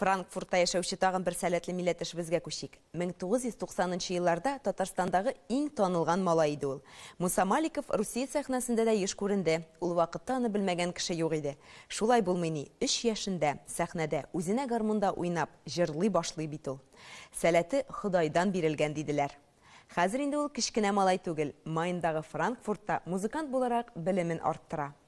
Франкфуртта яшәүче тагын бер сәләтле милләтешебезгә күчик. 1990 елларда Татарстандагы иң танылган малай иде ул. Муса Маликов Русия сәхнәсендә дә еш күренде. Ул вакытта аны белмәгән кеше юк иде. Шулай булмый ни, өч яшендә, сәхнәдә, үзенә гармунда уйнап, җырлый башлый бит ул. Сәләте Ходайдан бирелгән, диделәр. Хәзер инде ул кечкенә малай түгел, Майндагы Франкфуртта музыкант буларак белемен арттыра.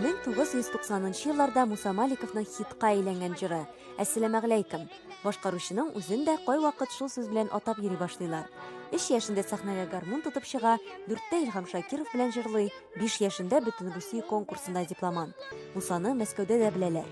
1990 елларда Муса Маликовның хитка әйләнгән җыры Әссәламәгәләйкем башкаручының үзен дә кайвакыт шул сүз белән атап йөри башлыйлар. 3 яшендә сәхнәгә гармун тотып чыга, 4тә Илһам Шакиров белән җырлый, 5 яшендә Бөтенрусия конкурсында дипломант. Мусаны Мәскәүдә дә беләләр.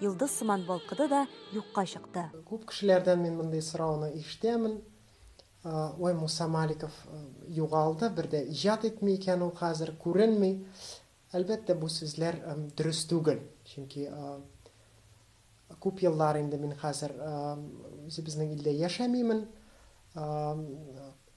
Йолдыз сыман балкыды да юкка чыкты. Күп кешеләрдән мин мондый сорауны ишетәмен. Ой, Муса Маликов югалды, бер дә иҗат итми икән ул хәзер, күренми. Әлбәттә, бу сүзләр дөрес түгел. Чөнки күп еллар инде мин хәзер үзебезнең илдә яшәмимен.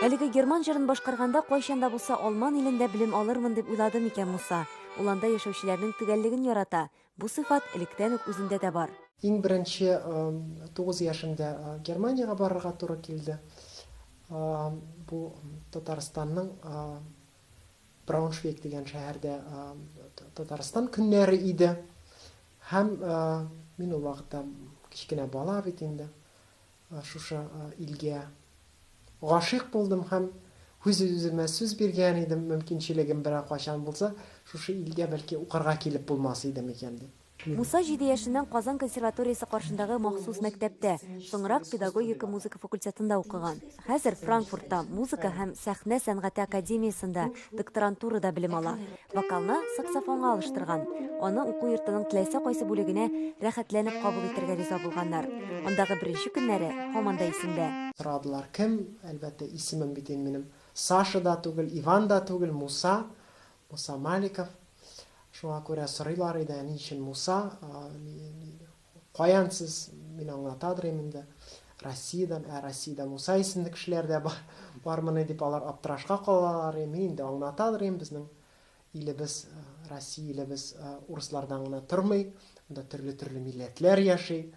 Әлеге герман җырын башкарганда кайчан да булса Алман илендә белем алырмын дип уйлады микән Муса? Ул анда яшәүчеләрнең төгәллеген ярата. Бу сыйфат электән үк үзендә дә бар. Иң беренче тугыз яшемдә Германиягә барырга туры килде. Бу Татарстанның Брауншвейг дигән шәһәрдә Татарстан көннәре иде. Һәм мин ул вакытта кечкенә бала бит инде. Шушы илгә гашыйк булдым һәм үз үземә сүз биргән идем, мөмкинчелегем берәр кайчан булса, шушы илгә бәлки укырга килеп булмас идем икән дип. Муса җиде яшеннән Казан консерваториясе каршындагы махсус мәктәптә, соңрак педагогика музыка факультетында укыган. Хәзер Франкфуртта музыка һәм сәхнә сәнгате академиясендә докторантурада белем ала. Вокалны саксофонга алыштырган. Аны уку йортының теләсә кайсы бүлегенә рәхәтләнеп кабул итәргә риза булганнар. Андагы беренче көннәре һаман да исендә. Сорадылар, кем? Әлбәттә, исемем бит инде минем Саша да түгел, Иван да түгел, Муса. Муса Маликов, Шуңа күрә сорыйлар иде, ә ни өчен Муса? Каян сез? Мин аңлатадырым инде. Россиядән, ә Россиядә Муса исемле кешеләр дә бар, бармыни дип алар аптырашка калалар. Мин инде аңлатадырым, безнең илебез, Россия илебез урыслардан гына тормый, анда төрле-төрле милләтләр яши.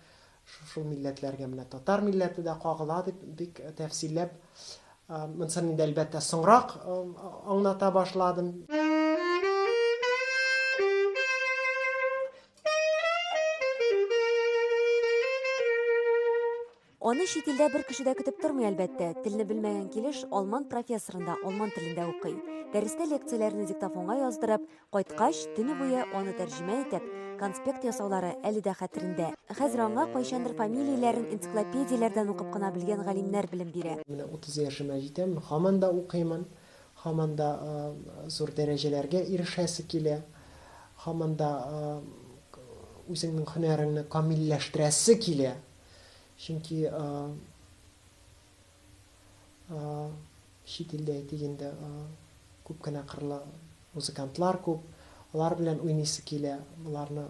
Шушы милләтләргә менә татар милләте дә кагыла дип бик тәфсилләп, монсын инде, әлбәттә, соңрак аңлата башладым. Аны чит илдә бер кеше дә көтеп тормый, әлбәттә. Телне белмәгән килеш, алман профессорында алман телендә укый. Дәрестә лекцияләрне диктофонга яздырып, Кайткач, төне буе аны тәрҗемә итеп, конспект ясаулары әле дә хәтерендә. Хәзер аңа кайчандыр фамилияләрен энциклопедияләрдән укып кына белгән галимнәр белем бирә. Менә 30 яшемә җитәм, һаман да укыймын, һаман да зур дәрәҗәләргә ирешәсе килә, һаман да үзеңнең һөнәреңне камилләштерәсе килә, чөнки. чит илдә әйтик инде күп кенә кырлы музыкантлар күп, алар белән уйныйсы килә, аларны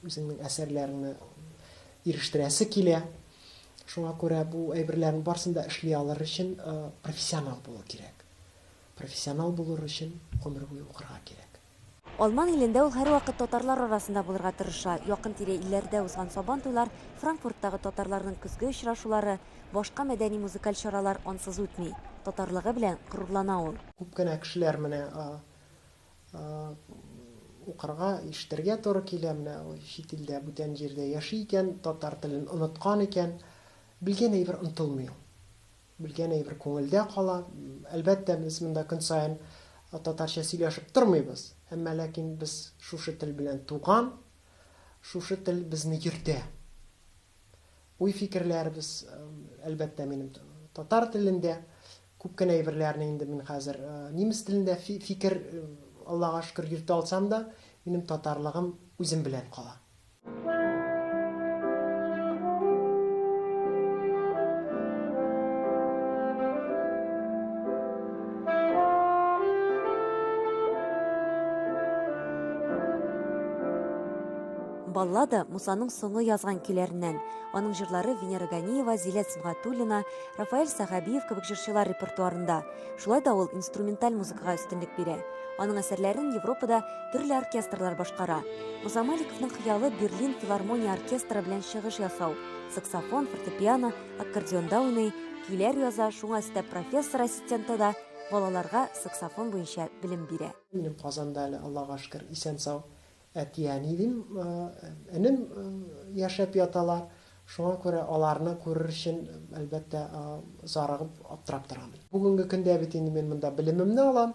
үзеңнең әсәрләреңне ирештерәсе килә. Шуңа күрә бу әйберләрнең барысын да эшли алыр өчен профессионал булу кирәк. Профессионал булыр өчен гомер буе укырга кирәк. Алман илендә ул һәрвакыт татарлар арасында булырга тырыша. Якын-тирә илләрдә узган Сабан туйлар, Франкфурттагы татарларның көзге очрашулары, башка мәдәни-музыкаль чаралар ансыз үтми. Татарлыгы белән горурлана ул. Күп кенә кешеләр менә укырга, ишетергә туры килә, менә чит илдә, бүтән җирдә яши икән, татар телен оныткан икән. Белгән әйбер онытылмый ул. Белгән әйбер күңелдә кала. Әлбәттә, без монда көн саен татарча сөйләшеп тормыйбыз, әмма ләкин без шушы тел белән туган, шушы тел безне йөртә. Уй-фикерләребез, әлбәттә, минем татар телендә, күп кенә әйберләрне инде мин хәзер немец телендә фикер, Аллага шөкер, йөртә алсам да, минем татарлыгым үзем белән кала. Баллада Мусаның соңы язган көйләреннән. Аның җырлары Венера Ганиева, Зилә Сибгатуллина, Рафаэль Сахабиев кебек җырчылар репертуарында. Шулай да ул инструменталь музыкага өстенлек бирә. Аның әсәрләрен Европада Төрле оркестрлар башкара. Муса Маликовның хыялы Берлин филармония оркестры белән чыгыш ясау. Саксофон, фортепиано, аккордеонда уйный, көйләр яза, шуңа өстәп профессор ассистенты да балаларга саксофон буенча белем бирә. Минем Казанда әле, Аллага шөкер, исән-сау әти-әни дим, энем яшәп яталар. Шуңа күрә аларны күрер өчен, әлбәттә, зарыгып, аптырап торам. Бүгенге көндә бит инде мин монда белемемне алам,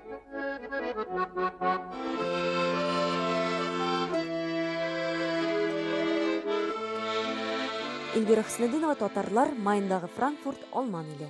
Эльвира Хөснетдинова, татарлар, Майндагы Франкфурт, Алман иле.